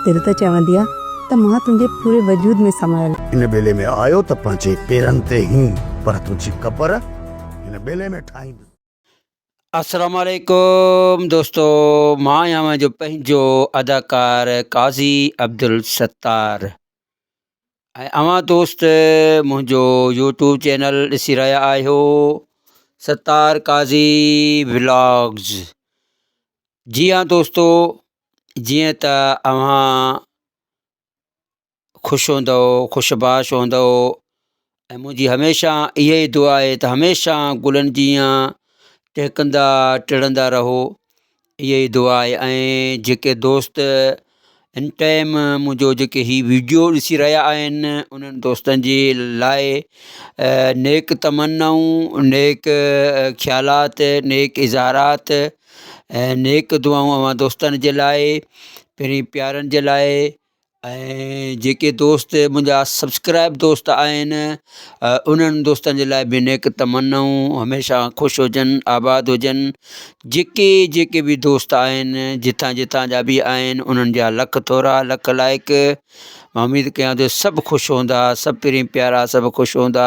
دل ته چوندي آ ته مان تنهنجي پوري وجود ۾ سمايل. هن ٻيلي ۾ آيو ته پنهنجي پيرن تي هين پر تنهنجي قبر هن ٻيلي ۾ ٺاهيندس. السلام عليڪم دوستو مان اوهان جو پنهنجو اداڪار قاضي عبدالستار. ۽ اوهان دوست منهنجو يوٽيوب چينل ڏسي رهيا آهيو ستار قاضي ولاگز جي هان دوستو جيئن ته اوهان خوش هوندو خوش باش هوندو ۽ منهنجي هميشه اها ئي دعا آهي ته هميشه گلن جيان ٽهڪندا ٽڙندا رهو ائها ئي دعا آهي ۽ جيڪي دوست ھن ٽائيم منهنجو جيڪي هي ويڊيو ڏسي رهيا آهن انهن دوستن جي لاء نيڪ تمنائون نيڪ خيالات نيڪ اظهارات نيڪ دعائون اوهان دوستن جي لاء پنهنجي پيارن جي لاء ۽ جيڪي دوست منهنجا سبسڪرائب دوست آهن انهن دوستن جي لاء به نيڪ تمنائون هميشه خوش هجن آباد هجن جيڪي جيڪي به دوست آهن جتان جتان جا به آهن انهن جا لک ٿورا لک لائق اميد ڪيان ٿو سڀ خوش هوندا سڀ پرين پيارا سڀ خوش هوندا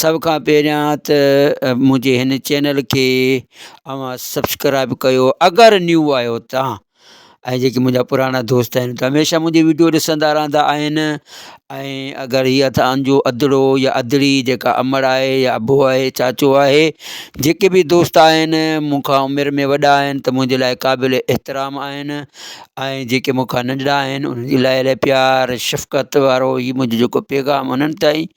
سڀ کان پهريان ته منهنجي هن چينل کي اوهان سبسڪرائب ڪيو اگر نيو آهيو تان ۽ جيڪي منهنجا پراڻا دوست آهن ته هميشه منهنجي ويڊيو ڏسندا رهندا آهن ۽ اگر هي اتان جو ادڙو يا ادڙي جيڪا امڙ آهي يا ابو آهي چاچو آهي جيڪي به دوست آهن مون کان عمر ۾ وڏا آهن ته منهنجي لاء قابل احترام آهن ۽ جيڪي مون کان ننڍڙا آهن انهن جي لاء الاهي پيار شفقت وارو هي منهنجو جيڪو پيغام انهن تائين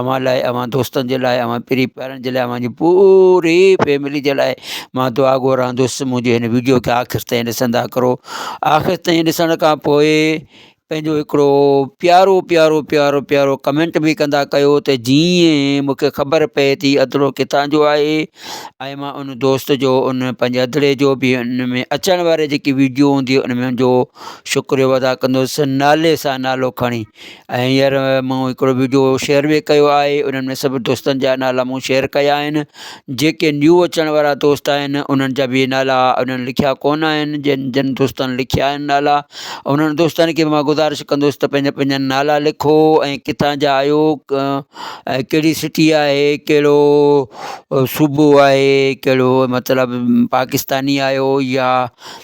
اوهان لاء اوهان دوستن جي لاء اوهان پري پيارن جي لاء اوهان جي پوري فيملي جي لاء ماں دعا گهرندس منهنجي هن ويڊيو کي آخر تائين ڏسندا ڪرو آخر تائين ڏسڻ کان پوء پنهنجو هڪڙو پيارو پيارو پيارو پيارو ڪمينٽ به ڪندا ڪيو ته جيئن مون کي خبر پئي ٿي ادڙو ڪٿان جو آهي ۽ ماں ان دوست جو ان پنهنجي ادڙي جو به ان ۾ اچڻ واري جيڪي ويڊيو هوندي ان ۾ جو شڪريو ادا ڪندس نالي سان نالو کڻي ۽ هينئر مون هڪڙو ويڊيو شيئر به ڪيو آهي انهن ۾ سڀ دوستن جا نالا مون شيئر ڪيا آهن جيڪي نيو اچڻ وارا دوست آهن انهن جا به نالا انهن لکيا ڪون آهن جن جن دوستن لکيا آهن نالا انهن دوستن کي به مان گذارش ڪندس ته پنهنجا پنهنجا نالا لکو ۽ ڪٿان جا آهيو ۽ ڪهڙي سٽي آهي ڪهڙو صوبو آهي ڪهڙو مطلب پاڪستاني آهيو يا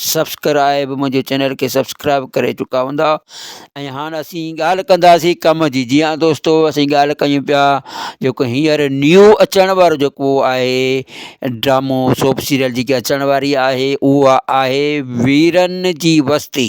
سبسڪرائب منهنجي چينل کي سبسڪرائب ڪري چڪا هوندا ۽ هاڻ اسين ڳالهه ڪنداسين ڪم جي جي ها دوستو اسين ڳالهه ڪيون پيا جيڪو هينئر نيو اچڻ وارو جيڪو آهي ڊرامو سوپ سيريل جيڪي اچڻ واري آهي اها آهي ويرن جي وستي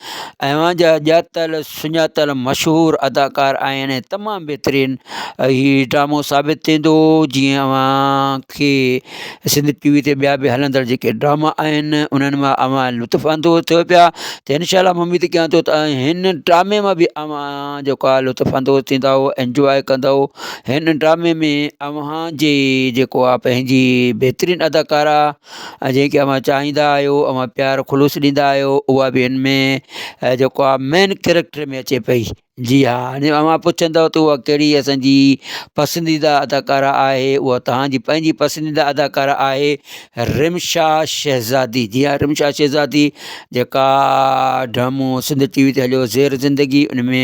اوهان جا ڄاتل سڃاتل مشهور اداڪار آهن ۽ تمام بهترين هي ڊرامو ثابت ٿيندو جيئن اوهان کي سنڌ ٽي وي تي ٻيا به هلندڙ جيڪي ڊراما آهن انهن مان اوهان لطف اندوز ٿيو پيا ته انشاء الله مون اميد ڪيان ٿو ته هن ڊرامي مان به اوهان جيڪو آهي لطف اندوز ٿيندا انجواء ڪندا هن ڊرامي ۾ اوهان جي جيڪو آهي پنهنجي بهترين اداڪارا ۽ جيڪي اوهان چاهيندا آهيو اوهان پيار خلوص ڏيندا آهيو اها به هن ۾ جيڪو آهي مين ڪيريڪٽر ۾ اچي پئي جي ها هاڻي اوهان پڇندو ته اها ڪهڙي اسانجي پسنديده اداڪارا آهي اها تهانجي پنهنجي پسنديده اداڪارا آهي رمشا شهزادي جي ها رمشا شهزادي جيڪا ڊرامو سنڌ ٽي وي تي هليو زير زندگي ان ۾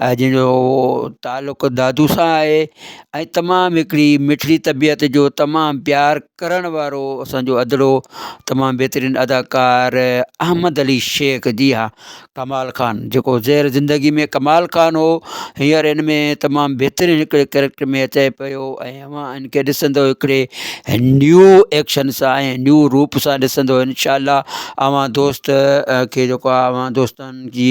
جنهن جو تعلق دادو سان آهي ۽ تمام هڪڙي مٺڙي طبيعت جو تمام پيار ڪرڻ وارو اسانجو ادڙو تمام بهترين اداڪار احمد علي شيخ جي ها ڪمال خان جيڪو زهر زندگي ۾ ڪمال خان هو هينئر هن ۾ تمام بهترين هڪڙي ڪريڪٽر ۾ اچي پيو ۽ اوهان هن کي ڏسندو هڪڙي نيو ايڪشن سان ۽ نيو روپ سان ڏسندو انشاء الله اوهان دوست کي جيڪو اوهان دوستن جي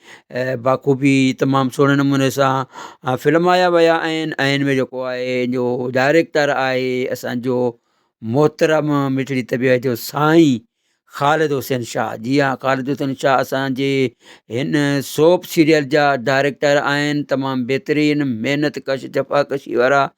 بخوبي تمام سهڻي نموني سان فلمايا ويا آهن ۽ ان ۾ جيڪو آهي جو ڊائريڪٽر آهي اسانجو محترم مٺڙي طبيعت جو سائين خالد حسين شاهه جي ها خالد حسين شاهه اسانجي هن سوپ سيريل جا ڊائريڪٽر آهن تمام بهترين محنت ڪش جفا ڪشي وارا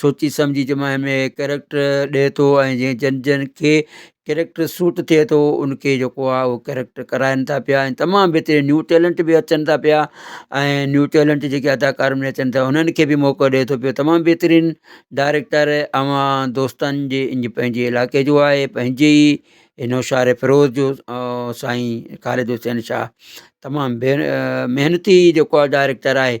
سوچي سمجهي جي ماهي ۾ ڪيريڪٽر ڏي ٿو ۽ جنهن جن جن کي ڪيريڪٽر سوٽ ٿئي ٿو ان کي جيڪو آهي اهو ڪيريڪٽر ڪرائن ٿا پيا ۽ تمام بهترين نيو ٽيلنٽ بي اچن ٿا پيا ۽ نيو ٽيلنٽ جيڪي اداڪار ۾ اچن ٿا انهن کي بي موقعو ڏي ٿو پيو تمام بهترين ڊائريڪٽر اوهان دوستن جي ان جي پنهنجي علائقي جو آهي پنهنجي ئي اي نوشهري فيروز جو سائين خالد حسين شاهه تمام بي محنتي جيڪو آهي ڊائريڪٽر آهي